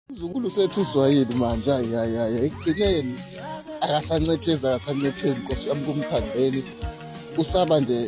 Mzukulu sethuswa yini manje ayayaya ekugcineni akasancethezi akasancethezi nkosi yami kumthandeni usaba nje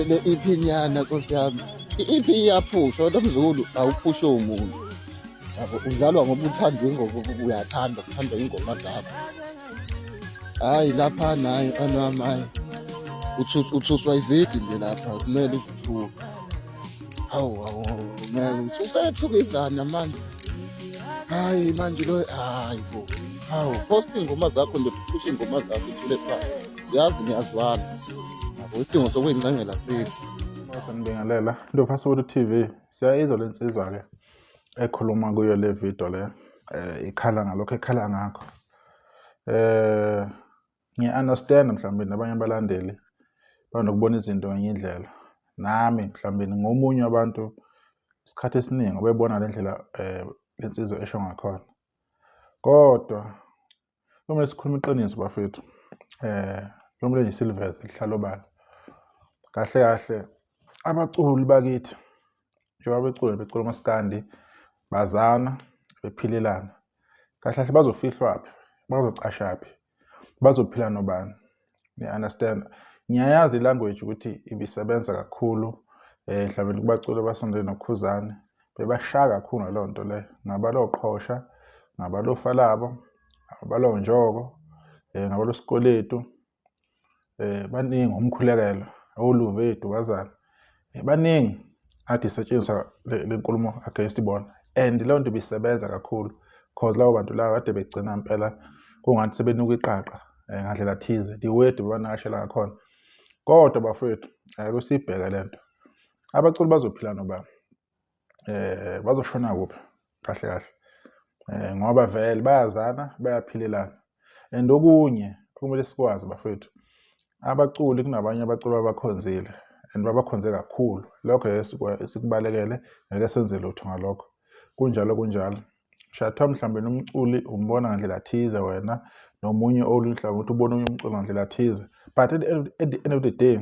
le EP nyana nkosi yami i-EP iyaphusha kodwa mzukulu awuphushe umuntu yabo udlalwa ngoba uthandwa ingoma uyathanda kuthandwa ingoma zakho hayi lapha naye anwami hayi uthuswa izidi nje lapha kumele uzithuke hawu hawu ngeke usethukizana manje hayi manje lo hayi bo hawu post ingoma zakho nje phusha ingoma zakho ithule phansi siyazi ngiyazwana yabo isidingo sokuyingcengela sikho sanibingelela ndovasolo tv siyayizwa le nsizwa-ke ekhuluma kuyo le video le um ikhala ngalokho ekhala ngakho eh ngiya understand mhlawumbe nabanye abalandeli banokubona izinto ngenye indlela nami mhlawumbe ngomunye wabantu isikhathi esiningi obebona le ndlela eh lensizwa esho ngakhona kodwa kumele sikhulume iqiniso bafethu eh kumele nje siliveze lihlalo bani kahle kahle abaculi bakithi njengoba becula becula umaskandi bazana bephilelana kahle kahle bazofihlwaphi bazocashaphi bazophila nobani niya-understand ngiyayazi ilanguage ukuthi ibisebenza kakhulu eh mhlawumbe kubaculi abasondele nokhuzane bebashaya kakhulu ngaleyo nto leyo ngabaloqhosha ngabalofalabo ngabalonjoko um eh, ngabalosikweletu eh baningi umkhulekelo awuluve idubazana eh, baningi athi setshenziswa lenkulumo against bona and leyo nto ibisebenza kakhulu because labo bantu laba kade begcina impela kungathi sebenuka iqaqa eh, ngandlela thize the word bebanakashela ngakhona kodwa bafowethu ayike siyibheke le nto abaculi bazophila nobani eh bazoshona kuphi kahle kahle eh ngoba vele bayazana bayaphilelana and okunye kumele sikwazi bafethu abaculi kunabanye abaculi abakhonzile and babakhonze kakhulu lokho esikubalekele ngeke senze lutho ngalokho kunjalo kunjalo Shatha mhlawumbe nomculi umbona ngandlela thize wena nomunye olunhlanga ukuthi ubona omunye umculi ngandlela thize but at, at the end of the day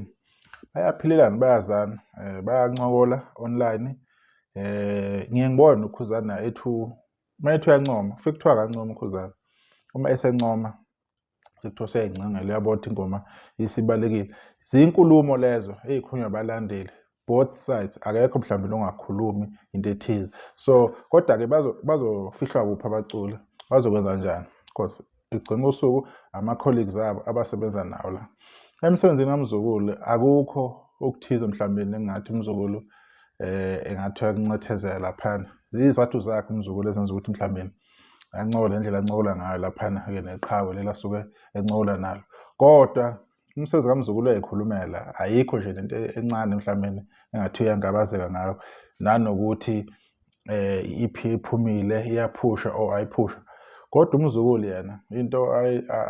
bayaphilelana bayazana eh, bayancokola online eh ngiye ngibone ukhuzana ethu uma ethu uyancoma fike kuthiwa kancoma ukhuzana uma esencoma sekuthiwa seyayingcangela uyabo ukuthi ingoma isibalekile zinkulumo lezo ezikhulunywa abalandeli both sides akekho mhlawumbe longakhulumi into ethize so kodwa-ke bazofihlwa kuphi abaculi bazokwenza njani because ekugcina kosuku ama-colleagues abo abasebenza nawo la emsebenzini kamzukulu akukho okuthize mhlawumbe engathi umzukulu um engathi uyakuncethezela phana ziyizathu zakhe umzukulu ezenza ukuthi mhlawumbe ancola indlela ancola ngayo laphana-ke neqhawe leli asuke encola nalo kodwa umsebenzi kamzukulu uyayikhulumela ayikho nje lento encane mhlawumbe engathi uyangabazeka ngayo nanokuthi eh iphi iphumile iyaphusha or ayiphusha kodwa umzukulu yena into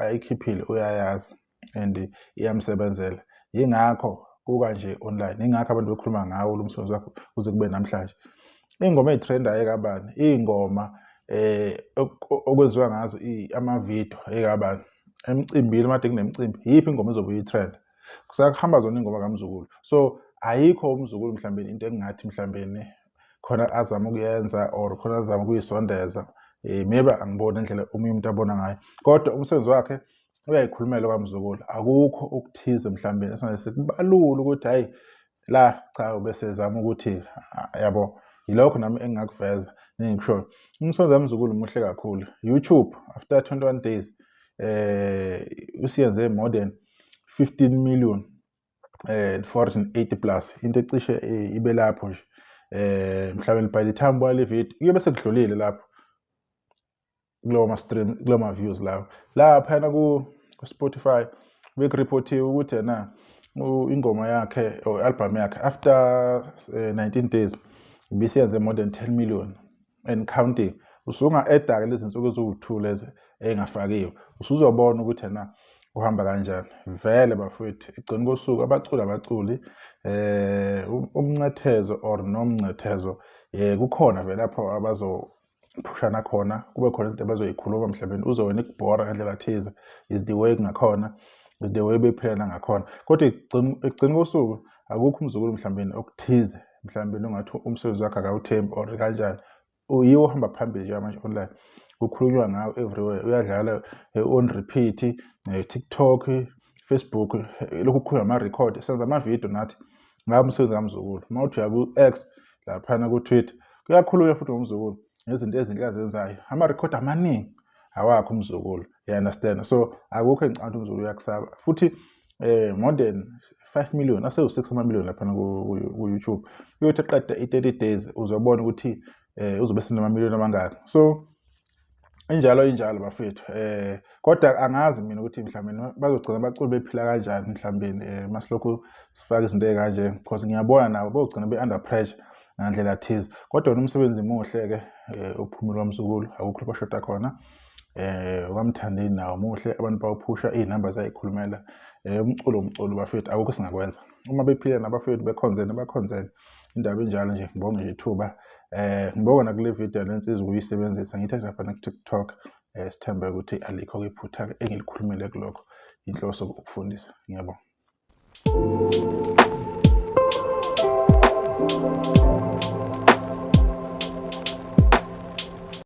ayikhiphile uyayazi and iyamsebenzela yingakho kuka nje online yingakho abantu bekhuluma ngawo lo msebenzi wakho kuze kube namhlanje iy'ngoma ey'threndayo ekabani iy'ngoma eh okwenziwa ngazo amavidiyo ekabani emcimbini made kunemcimbi yiphi ingoma ezobe uyitrend kusakuhamba zona ingoma kamzukulu so ayikho umzukulu mhlawumbe into engingathi mhlawumbe khona azama ukuyenza or khona azama ukuyisondeza um maybe angiboni indlela omunye umuntu abona ngayo kodwa umsebenzi wakhe uyayikhulumela kwamzukulu akukho okuthize mhlawumbe esingaze sikubalule ukuthi hhayi la cha ubesezama ukuthi yabo yilokho nami engingakuveza nengikushoyo umsonzi wamzukulu muhle kakhulu youtube after 21 days eh usiyenze more than 15 million eh 480 plus into ecishe eh, ibe lapho nje eh mhlawumbe by the time bwale video kuyobe sekudlulile lapho kulowo ma-stream kulowo ma-views lawo laphayana ku-spotify bekuripothiwe ukuthi yena ingoma yakhe or i-albhamu yakhe after uh, eh, 19 days bisiyenze more than 10 million and counting usunga-eda-ke lezi nsuku eziwu-two lezi ey'ngafakiwe usuzobona ukuthi yena kuhamba kanjani vele bafowethu ekugcini kosuku abaculi abaculi eh umncethezo or nomncethezo eh kukhona vele lapho abazo phushana khona kube khona izinto abazoyikhuluma mhlawumbe uze wena ikubhora ngendlela thize is the way kungakhona is the way bephilela ngakhona kodwa ekugcina kosuku akukho umzukulu mhlawumbe okuthize mhlawumbe ungathi umsebenzi wakhe akawuthembi or kanjani uyiwo ohamba phambili njengamanje online kukhulunywa ngawo everywhere uyadlala eh, on repeat eh, tiktok facebook eh, lokhu kukhulunywa ama-record senza ama-video nathi ngaba umsebenzi kamzukulu uma uthi uya ku-x laphana ku-twitter kuyakhulunywa futhi ngomzukulu ngezinto ezinhle azenzayo amarekhodi amaningi awakho umzukulu you understand so akukho engicabanga ukuthi umzukulu uyakusaba futhi eh more than 5 million asewu-6 amamillion laphana ku-youtube uyothi eqeda i-30 days uzobona ukuthi eh uzobe senamamillion amangaki so injalo injalo bafethu eh kodwa angazi mina ukuthi mhlawumbe bazogcina baculi bephila kanjani mhlawumbe eh masilokhu sifaka izinto ezikanje because ngiyabona nabo bogcina be under pressure ngandlela thize kodwa nomsebenzi muhle ke eh, uphumula umsukulu akukho bashoda khona eh ukamthandeni nawo muhle abantu bawuphusha izinamba zayikhulumela eh umculo umculo bafethu akukho singakwenza uma bephila nabafethu bekhonzene bakhonzene indaba enjalo nje ngibonge nje ithuba eh ngibonga nakule video lensiza ukuyisebenzisa ngithe nje fana ku-tiktok eh sithembe ukuthi alikho iphutha engilikhulumile kulokho inhloso ukufundisa ngiyabonga